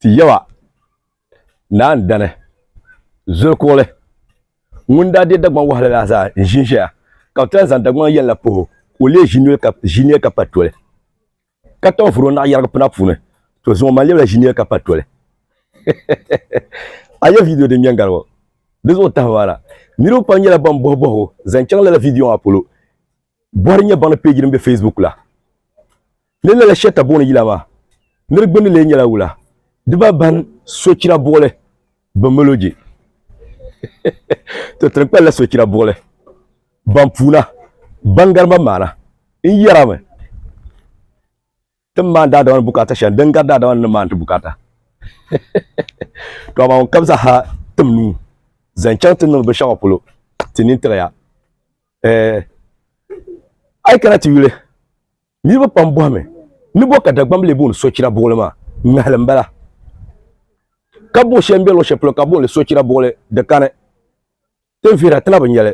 Ti Yawɛ, Naa n dani, zoli kuɣili, ŋun daa deei Dagbaŋ wahala la zaa n ʒin ʒɛya, ka bɛ ti lahi zaŋ Dagbaŋ yɛn la puhi o, ka o lee ʒi nir ka pa toli, ka tɔbu vuri o naɣ yɛrigi pina puuni, to zuŋɔ man lebila ʒi nir ka pa toli. A yɛli vidiyo din ŋmɛ n gari ŋɔ? Di zuɣu tahibu maa na, niriba pam nyɛla ban bɔhibɔhigu zaŋ chaŋ lala vidiyo maa polo. Bɔri nyɛ baŋli peeji din be Facebook la ni lala shɛli ta booni yila maa ni di gbunni lee nyɛla wula dibaa bahin sochira buɣili, bimology. to tiri kpalila sochira buɣili ban puuna ban gari man maana n yɛrami. ti ni maani daadama ni bukaata shɛli din gari daadama ni ni maani ti bukaata to amaa ŋun kam zaa ha tim nuu zaŋ chaŋ ti niŋdi binshaɣu polo ti nini tiɣiya eh, a yi kana ti yuli niriba pam bɔhimi ni bɔ ka Dagbaŋ lee booni sochira buɣili maa ŋmɛhili m-bala ka buɣi shɛli m-be luɣishɛli polo ka booni sochira buɣili di kani ti vihira ti na bi nyɛli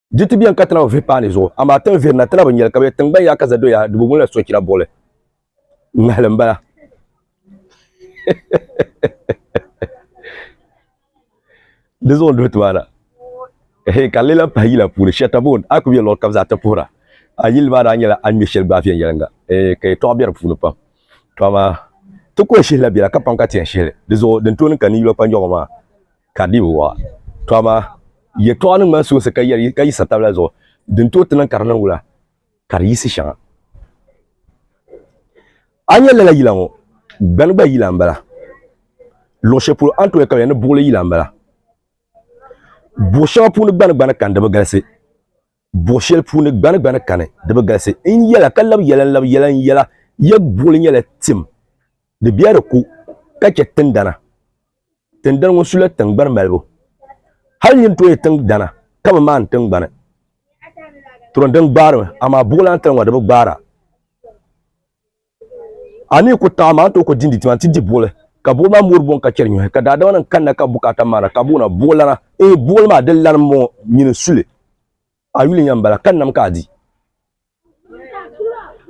Di ti biɛni ka ti na bi vihi paani zuɣu, amaa ti ni vihiri na ti na bi nyɛli ka bɛ tiŋgbani yaa ka zadoya di bi ŋuni la sochira buɣili ŋmahili m-bala. Di zuɣu n-duhi ti maa na. Ehe, ka n lee lahi pahi yila puuni Shɛtabɔn, a ku be luɣ kam zaa ti puhira. A yili maa daa nyɛla a ni ŋme shɛli gbaai viɛnyɛliŋga, eeh, ka yɛtɔɣa be di puuni pam. To amaa, ti kɔhishihila bela ka paŋ ka ti yɛn shihi li. Di zuɣu, din tooi niŋ ka ninyula kpa nyɔɣu maa, Ka di bi waɣa. To amaa yɛtɔɣa ni ŋmani soonsi ka yɛli ka yiɣisiri tabila zuɣu, din tooi ti niŋ ka di niŋ wula, ka di yiɣisi shɛŋa. A ni yɛn lala yila ŋɔ, gbani gba yila m-bala. Luɣ shɛli polo a ni tooi yɛli ka bɛ yɛli ni buɣili yila m-bala. Buɣ shɛŋa puuni gbani gbani ka n di bi galisi. buɣ shɛli puuni gbani gbani kani di bi galisi n yɛla ka labi yɛla n labi yɛla n yɛla ya buɣili nyɛla tim di bɛ di ku ka chɛ tindana tindani ŋun sula tingbani malibu hali nyin tooi tingbana ka bi maan tingbani turon din gbaarimi amaa buɣulan tali ŋɔ di bi gbaara a ni ku taɣi maa n tooi ku dindi tima nti di buɣili ka buɣili maa mori buɣim ka chɛri nyɔhi ka daadama nim kanna ka bukaata maana ka buɣina buɣilana ee buɣili maa di lani m-bɔŋɔ nyini suli a yuli nya m-bala ka nam ka a di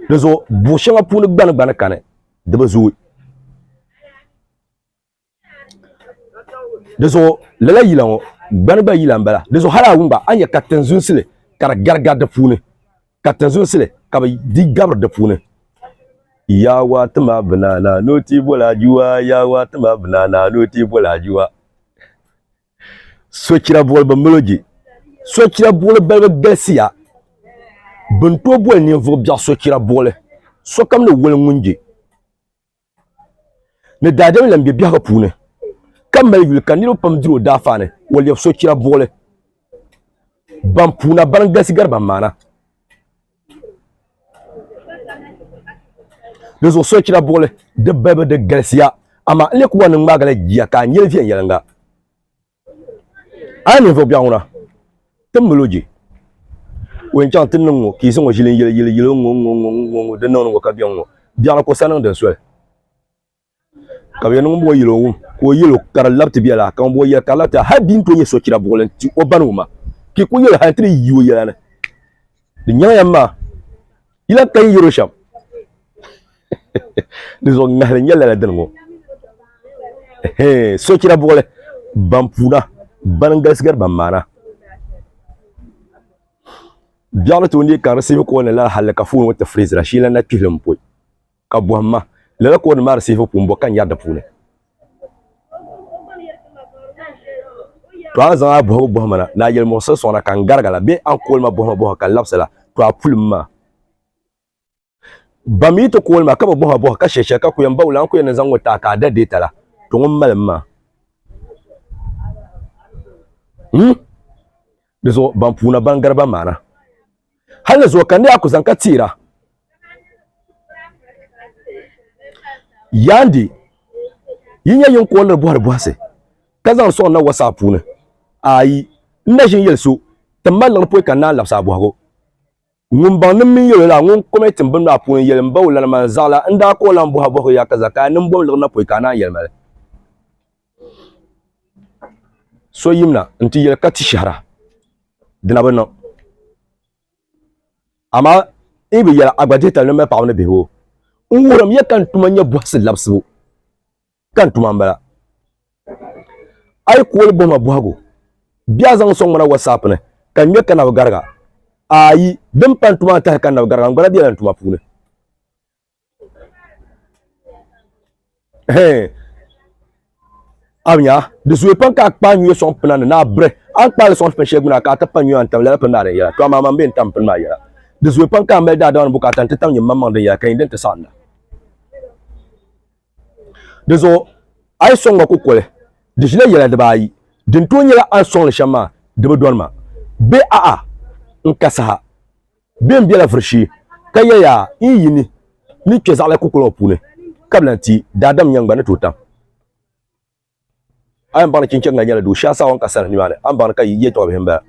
di zuɣu buɣ shɛŋa puuni gbani gba ni kani di bi zooi di zuɣu lala yila ŋɔ gbani gba yila n bala di zuɣu hali a wumba a nya ka tinzunsili ka di garigari di puuni ka tinzunsili ka bi di gabiri di puuni yaawa ti ma binana ni o ti boli ajiwa yaawa ti ma binana ni o ti boli ajiwa sochira buɣuli bi milo je sochira buɣuli balibu galisiya bin to boli ninvuɣu biɛɣu sochira buɣuli sokam ni woli ŋun je ni daadam lan be biɛhigu puuni, ka mali yuli ka niriba pam diri o daafaa ni o lɛbi sochira buɣili ban puuna ban galisi gari ban maana. Di zuɣu sochira buɣili di balibu di galisiya amaa n-lee ku wan ni ŋmaagi la jia ka a nyeli viɛnyɛliŋga. a yi ninvuɣ biɛɣu ŋuna, ti mali o je. O yɛn chaŋ ti niŋ ŋɔ, ka yi zaŋ o ʒili n-yili yili yili ŋ-ŋɔ ŋ-ŋɔ ŋ-ŋɔ ŋ-ŋɔ ŋ-ŋɔ din niŋdi ŋɔ ka biɛŋ ŋɔ. Biɛɣu la ka o sani niŋ din soli. Ka bɛ yɛn niŋ bɔ yɛli o wum, ka o yɛl o ka di labiti biɛla, ka ŋumbɔŋɔ yɛli ka di labita hal bɛ ni tooi nyɛ sochira buɣili n-ti o bani wuma, ka yi kul yɛl o hal nti di yi o yɛla ni, Di nyaŋ ya m ma! yila ka yi yɛro shɛm di zuɣu ŋahili nyɛla la dini ŋɔ sochira buɣuli ban puuna ban n galisi gari ban maana biɛɣu ni tooi neei ka di sibi kɔɔli la hali ka foon ŋɔ ti firizira shee lan na kpihili n pɔi Ka bɔhim ma, lala kooni maa di sihibu puu m-bɔ ka n yɛri di puuni? Tɔ a zaŋ a bɔhibu bɔhi ma na, ni a yɛlimuɣisiri sɔŋ na ka n garigi la, bee a ni kooli ma bɔhima bɔhibu ka n labisi la, tɔ a puli m ma. Ban mi yi ti kooli ma ka bi bɔhi ma bɔhibu ka shiri shɛli ka ku yɛn ba wula, a ni ku yɛn ni zaŋ ŋɔ ti a ka a da deeta la, tɔ ŋun mali m ma. N. Di zuɣu ban puuna ban gari ban maana. Hal ni zuɣu ka ni a ku zaŋ ka teera. Yaandi, yi nyɛ yin kooliri bɔhiri bɔhisi, ka zaŋ sɔŋ na wɔsaa puuni? Aai, n na ʒin yɛli so, Tim ma liɣiri pɔi ka n naan labisi a bɔhigu. Ŋun baŋ ni m mini yɛl o la, ŋun kom e tim bini maa puuni yɛli m-ba o lana maa n-zaɣila n daa ka o lan bɔhi a bɔhigu yaa ka zakaa niŋ bom liɣiri na pɔi ka a naan yɛli ma li? so yimina n ti yɛli ka ti shɛhira dina bi niŋ amaa i bi yɛli a gba dihi tali ni mali paɣaba ni bihi o n wuhurimi ya ka n tuma nyɛ bɔhisi labisibu ka n tuma n bala a yi kooli bɔhima bɔhigu bɛ a zaŋ sɔŋ ŋmana wasaap ni ka n ŋmɛ ka na bi gariga ayi din pa n tuma n tahi ka n na bi gariga n gbala biɛla n tuma puuni Hey. Amiya, di zuwe pam ka kpa nyuya sɔŋ pina ni naa bire. An kpaali sɔŋ pin shɛli guna ka ti pa nyuya n tam lala pin maa din yɛla. To amaa man bee n tam pin maa yɛla. Di zuwe pam ka mali daadama ni bukaata n ti tam nyim maŋ maŋ din yɛla ka nyin din ti saɣinda. Di zuɣu a yi sɔŋ ma kukoli, di ʒila yɛla dibaayi. Din tooi nyɛla a ni sɔŋ li shɛm maa di bi dɔni ma bee a'a n ka saha. Bɛ ni bela vuri shee ka ya yaa n yi yi ni ni kpe zaɣila kukuli ŋɔ puuni ka bi lan ti daadam nya n gba ni tooi tam. A yɛn baŋ ni Chinchɛŋa nyɛla doo shee a saawɔŋ ka saha nimaani a ni baŋ ni ka yi yɛtɔɣibihi m-bala.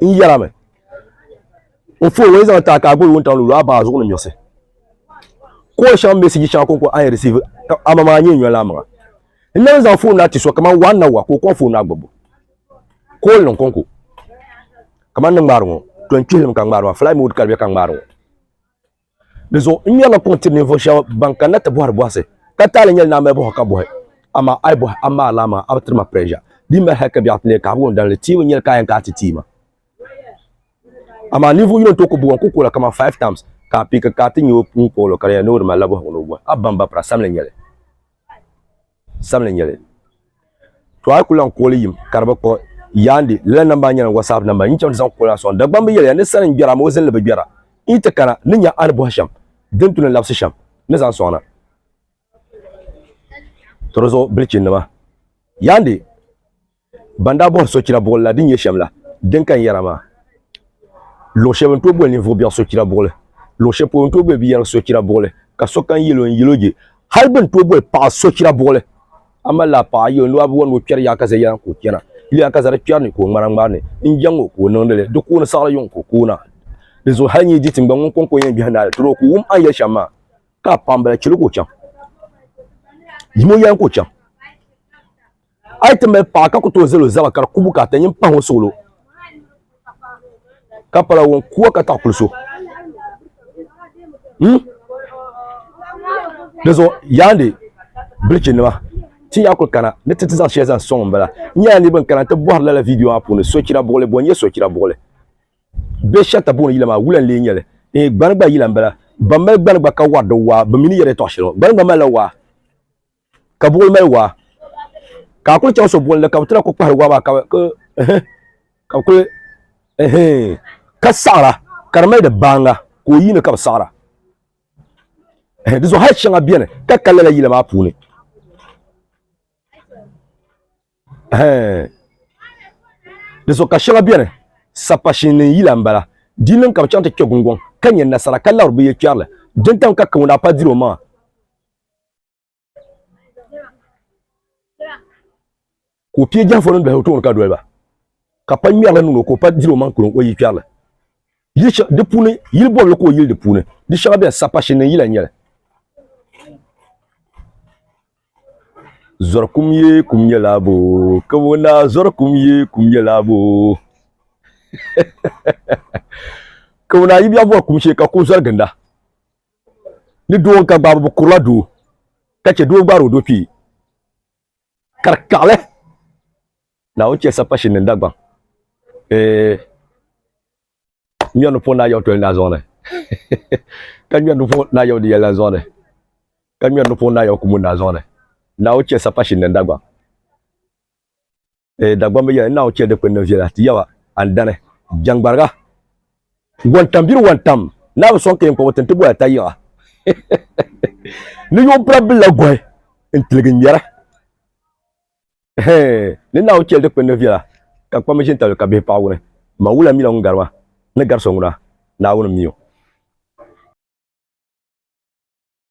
N yɛlimi, N foo ŋɔ yi zaŋ taai ka a guli wuntaŋ luɣuluɣu a baŋ a zuɣu ni miɣisi. Kool shɛŋa meeseji shɛŋa kɔŋko a ni yɛn risiivi ka amamaa n-nyɛ n yɔn la a maŋa. N nam n-zaŋ foon na ti so kaman wahu ni na wahu ka o kɔŋ foon na gbubu. ka o niŋ konko kamani ni ŋmaari ŋo to n kpihili mi ka ŋmaari maa fulai mood ka di bɛ ka ŋmaari ŋo di zuɣu n ŋmɛrila kuŋ tiri ninvuɣu shab ban kanna ti bohari bohasi ka taali nyɛli ni a mali bohari ka bohi amaa a yi bohi a maali a maŋa a bi tiri ma prɛʒa di mali hali ka biɛɣu ti neei kahigu n dalili tia bi nyɛli ka a yɛn kana ti tia ma amaa ninvuɣu yino n tooi ku buɣum ku kuɣula kamani five times ka a pii ka ka ti nyɛ o pun kɔɔlo ka di yɛn ni o di malila bohagu ni o bohi a bamba pira sabinli nyɛli sabinli n nyɛli to a yi ku lahi kooli yim ka di bi kpuɣi yaandi lala namba nyɛla wasaap namba n yi chaŋ ti zaŋ kooli a soŋ dagbam bi yɛliya ni sani n gbɛra amaa o zinli bi gbɛra n yi ti kana ni nya a ni bɔhi shɛm din tu ni labisi shɛm ni zaŋ soŋna to di zuɣu bilichi nima yaandi Ban daa bɔhiri sochira buɣili la din nyɛ shɛm la, din ka n yɛra maa, luɣ shɛb bɛ ni tooi boli ninvuɣ biɛɣu sochira buɣili, luɣ shɛli polo n tooi boli biyɛrigu sochira buɣili, ka sokam yɛl o n yɛl o je. Hal bɛ ni tooi boli paɣa sochira buɣili, a mali laa paɣa, yɛl o ni waa bi wɔn ni o kpɛri yaakaza yɛla ka o chana, yɛl yaakaza di kpɛri ni ka o ŋmara ŋmari ni, n jaŋ o ka o niŋdi li, di kooni saɣiri yuŋ ka o koona. Di zuɣu hal n yi di tiŋgbani ŋun kɔŋko yɛn biɛhi naai li tiri o ka o wum a ni yɛli shɛm maa, ka a paɣimbila chɛ li ka o chaŋ. Yim o yɛla ka o chaŋ. a yi ti mali paɣa ka ku tooi zali o zaba ka di kubu ka ata nyin pahi o suɣulo ka pala ŋun kuwa ka taɣi kuli so hmm? di zuɣu yaandi bilichi nima ti yaa kuli kana ni ti ti zaŋ shɛli zaŋ sɔŋ n bala n nyɛla niriba n kana ti bɔhiri lala vidiyo maa puuni sochira buɣuli bɔ n nyɛ sochira buɣuli bɛ shɛta buɣuli yila maa wula n lee nyɛli eh, gbani gba yila n bala ban mali gbani gba ka wari di waa bi mini yɛda tɔɣa shɛli gbani gba malila waa ka buɣuli mali waa ka a kuli chaŋ so bolli ka bi tira ku kpahari waa maa ka ka bi kuli ka saɣara ka di mali di baanga ka o yiini ka bi saɣara di zuɣu hali shɛŋa biɛni ka ka lala yila maa puuni di zuɣu ka shɛŋa biɛni sapashin ni yila n bala di niŋ ka bi chaŋ ti kpɛ gungoŋ ka nyɛ nasara ka labiri bi yɛ kpɛrili dintam ka kawuna pa diri o maŋa ka o pie jɛnfo ni dɔhi o tooni ka doli ba ka pa ŋmɛrili niŋ o ka o pa diri o maŋ kuli o yi kpɛrili di puuni yili bɔbili ka o yili di puuni di shɛŋa bɛn sa pa shini yila nyɛli zɔri kum ye kum nyɛla bo ka o naa zɔri kum ye kum nyɛla bo ka o naa yi bɛ bɔri kum shee ka ku zɔri ginda ni doo ka gbaabo bi kurila doo ka chɛ doo gbaari o doo kpee ka di kaɣali naawuni chɛ sapashin ni dagbaŋ ŋmɛri ni puɣi naa yaw toli naa zuɣuni ka ŋmɛri ni puɣi naa yaw di yɛlila zuɣuni ka ŋmɛri ni puɣi naa yaw kumu naa zuɣuni naawuni chɛ sapashin ni dagbaŋ eh, dagbamba yɛli naawuni chɛ dikpuni ni viɛla ti yaba andani jɛŋgbariga wɔntambiri wɔntam naa bi sɔŋ ka yɛn kɔbi tin ti bɔya ta yiɣa ni yo bira bila gɔhi n tiligi ŋmɛra ni naawuni chɛli dikpuni ni viɛla ka kpambi ʒini tabili ka bihi paɣa wuni ma wula mila ŋun garima ni gari so ŋuna naawuni miyo